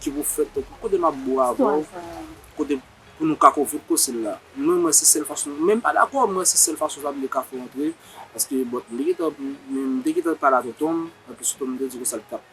ki pou fèt pou kote map bo avèw kote pou nou ka konfit kosil la mwen mwen se sèl fason men mpa dakò mwen se sèl fason sa vle kafou antre paske bon mte gentan mte gentan pale avèk tonm anplis tonm te di konsa li tap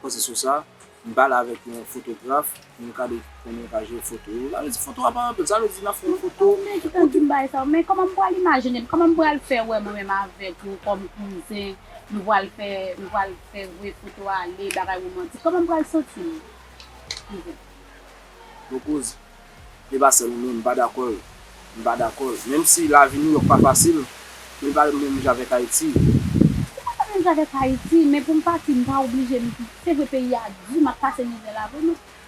panse sou sa m pale avèk yon fotograf pou m kade konnen yon ka jwe foto yo sa vle di foto a pa anpil sa vle di nap fè yon foto ou menm ki pral di m bagay sa yo men kòman m pral imajine m kòman m pral fè wè mwen menm avèk ou kòm kouzen nou pral fè nou pral. Fè vre foto ale bagay romantik koman m pral santi m Yvette. Bon kouz, li pa sèl ou menm, m pa dakò l, m pa dakò l. Menm si lavi New York pa fasil, men li pa menm jan avèk Ayiti. Se pa l pa menm jan avèk Ayiti, men pou m pati m pa oblije m, se vre peyi a di, m ap pase mizè la vre men.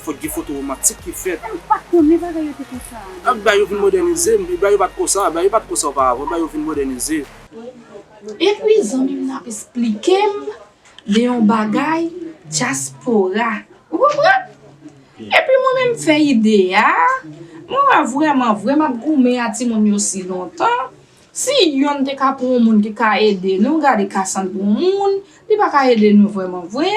Fòk gen foto romantik ki fèt. Mwen pat konnen bagay yo te konsa. Ak bagay yo vin modènize, bagay yo pat konsa, bagay yo pat konsa oparavan, bagay yo vin modènize. Epi zanmi m nan ap esplike m de yon bagay dyaspora. Ou konprann? Epi mwen menm m fè ide a, mwen wè vrèman vre m ap goumen a timoun yo si lontan, si yonn te ka pran yon moun ki ka ede nou, gade Cassandre yon moun, li pa ka ede nou vrèman vre.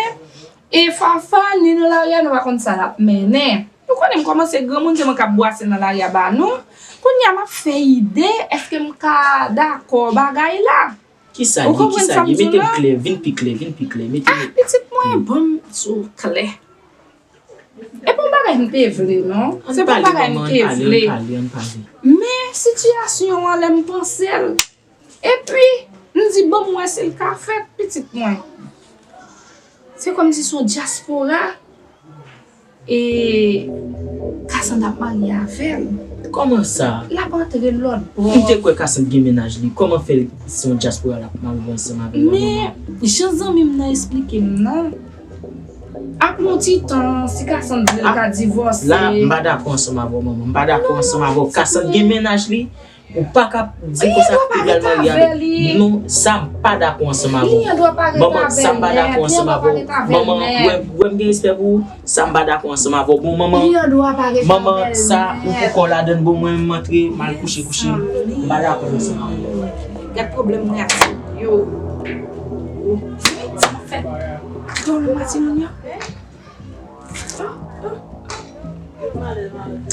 E Fafa ni nan lari a nou pa konn sa lap mennen. Nou konnen m kòmanse granmoun se mwen kap bwase nan lari a ba nou. Kounye a map fè ide eske m ka dakò bagay la. Kisa li, kisa li, mete l klè, vin pi klè, vin pi klè, mete l. Ah pitit mwen ban m di w klè. E pa yon bagay m te vle non. Se pa yon bagay m te vle. An pale manman, an pale, an pale. Men sitiyasyon an lè m panse l. Epi, m di ban m wè si l ka fèt, pitit mwen. Se kòmsi se yon dyaspora e Kasand ap marye avè l. Kòman sa? L ap antre lòtbò. M te kwè Kasand gen mennaj li. Kòman fè se yon dyaspora l ap marye ansanm avè l la manman? Men, jan zanmi m nan esplike m nan, ap yon ti tan, si Kasand vle l ka divòse. La, m pa dakò ansanm avè w manman. M pa dakò ansanm avè w. Kasand gen mennaj li. Ou pa ka di konsa Egal Maryali non sa m pa dakò ansanm avè w Manman sa m pa dakò ansanm avè w Manman wè m gen respè pou ou sa m pa dakò ansanm avè w Bon manman Manman sa ou pou kò w ladan l Bon mwen m antre m al kouche kouche m pa dakò ansanm avè w Gad pwoblèm mwen ak ti moun yo Ti moun sa fè Don Louis Ti moun yo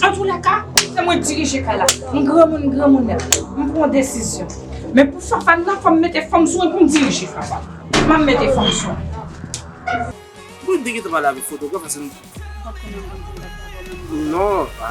Antoulèka, se mwen dirije kay la. M granmoun, m granmounè. M pran desizyon. Men pou Fafa nan, fò m mete fanm sou mwen pou m dirije Fafa. M ap mete fanm sou mwen. Poukisa w te gentan pale avèk fotograf la se m. M pa t konnen m pa t gen data avè w menm. Non, pa.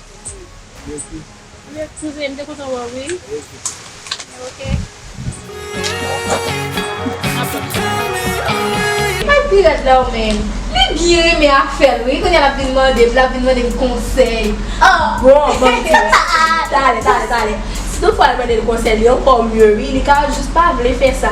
Mesi. Mesi vre m te kontan wè w wi. Mesi. Mike pi rèd la w menm. Li byen renmen afèl wi kounya lap vin mandem lap vin mandem konsèy ah bon banm diw aa tale tale tale si tout fwa al mandel konsèy li ankò mye wi li ka jus pa vle fè sa.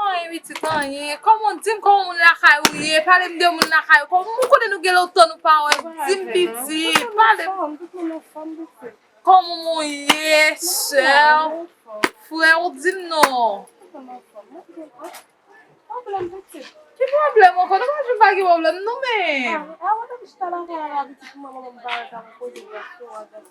Anyen pitit anyen kòman dim kòman moun lakay ou ye palem de moun lakay ou kòman mwen konnen nou gen lontan nou pa wèm dim pitit palem kòman moun ye sèw frèw dim non ki pwoblèm ankò nou pa janm pa gen pwoblèm nou menm.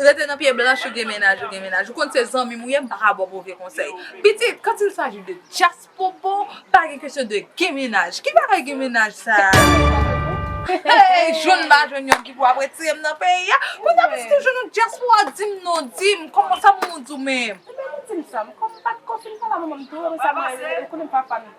Rete nan pye blanch ou gen mennaj ou gen mennaj ou konn se zanmim ou ye m paka baw move konsèy pitit quand il s'agit de djas popo pa gen kesyon de gen mennaj ki bagay gen mennaj sa hey jwenn m pa jwenn yon ki pou ap retirem nan peyi a konsa pitit ou jwenn yon djaspora dim non dim kòman sa moun ou di w menm. Ebyen li dim sa m kòm m pat ko fin pale a manman m tou ou wè m sa mwen ou konnen m pa fanm.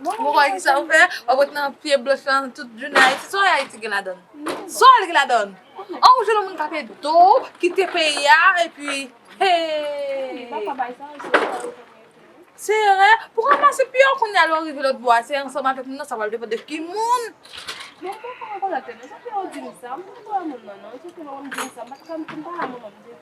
Mwen konnen ki sa ou fè, wap ret nan pye blanch lan tout jounen Ayiti, sa Ayiti gen ladan? Sa l gen ladan? An ou jwenn yon moun k ap ede w, kite peyi a epi hee. Se vre, pou ranmase pi yo kounye a lè w rive lòtbò a se ansanm avèk moun nan sa pral depann de ki moun.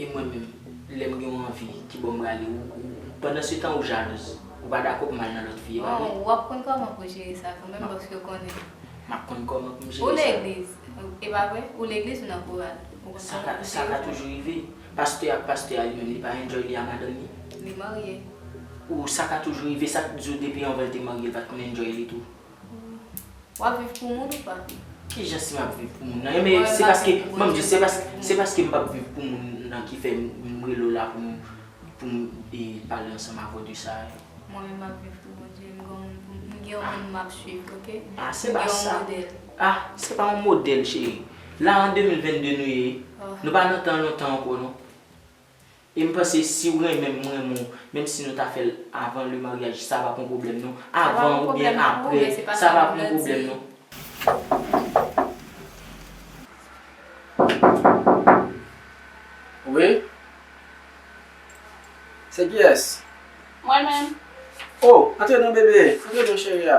E mwen menm, lè m gen yon anvi, kibò m prale? Ou, ou, pandan se tan ou jalouz. Ou pa dakò pou m al nan lòt fi, e pa vre? Bon, w ap konn kòman pou w jere sa kanmenm paske w konnen. M ap konn kòman pou m jere sa. Ou legliz, e pa vre? Ou legliz, ou nan koral. Ou konn kòman pou w jere sa. Sa ka toujou rive. Pastè ak pastè a li menm, li pa enjoy li a madanm li? Li marye. Ou, sa ka toujou rive, sa k di w depi anvan l te marye l pa t konn enjoy li tou? Wap viv pou moun ou pa? Ki jan si map viv pou moun nan? Eme se paske, banm di, se paske, se paske mpap viv pou moun nan ki fè m rele w la pou m, pou m e pale ansanm avè w de sa yo. Mwen menm map viv pou Bondye, m gen yon moun pou m, m gen yon moun map swiv ok. A se pa sa. M gen yon modèl. A se pa yon modèl cheri. La an 2022 nou ye, nou pa nan tan lontan ankò non. Em panse siw renmenm m renmen w menm si nou ta fèl avan le mariage sa pap yon problème non avan ou byen aprè sa pap yon problème non. Wi Se kiyès? Mwen menm. Oh antre nan bebe antre nan cheri a.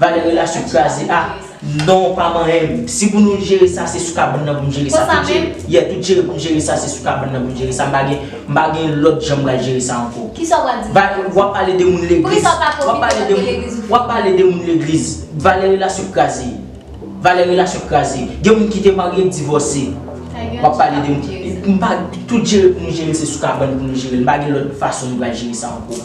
Valè relasyon kraze ah non pa manyenm si pou nou jere sa se sou kabann nan pou nou jere sa tout jere yeah tout jere pou nou jere sa se sou kabann nan pou nou jere sa m pa gen m pa gen lòt jan m pral jere sa ankò valè wap pale de moun legliz wap pale de moun wap pale de moun legliz valè relasyon kraze valè relasyon kraze gen moun ki te marye k divòse wap pale de moun m pa tout jere pou nou jere se sou kabann pou nou jere l m pa gen lòt fason m pral jere sa ankò.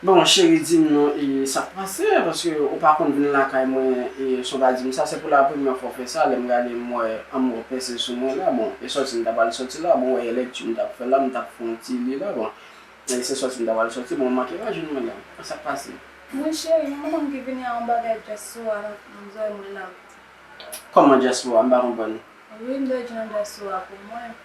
Bon cheri dim non e sak pase paske ou pa konn vin lakay mwen e son pa dim sa se pou la premyè fwa ou fè sa lèm gade m wè anmwr pèse sou mwen la bon e sòti m ta pral sòti la bon ou wè e lèkti m tap fè la m tap fè yon ti li la bon e se sòti m ta pral sòti bon ou manke pa jwenn mwen la e sak pase. Mwen cheri mwen pa konn ki vini a yon bagay djaspora nan zòrèy mwen la. Kòman djaspora m pa konprann. Wi m dwe di nan djaspora pou mwen.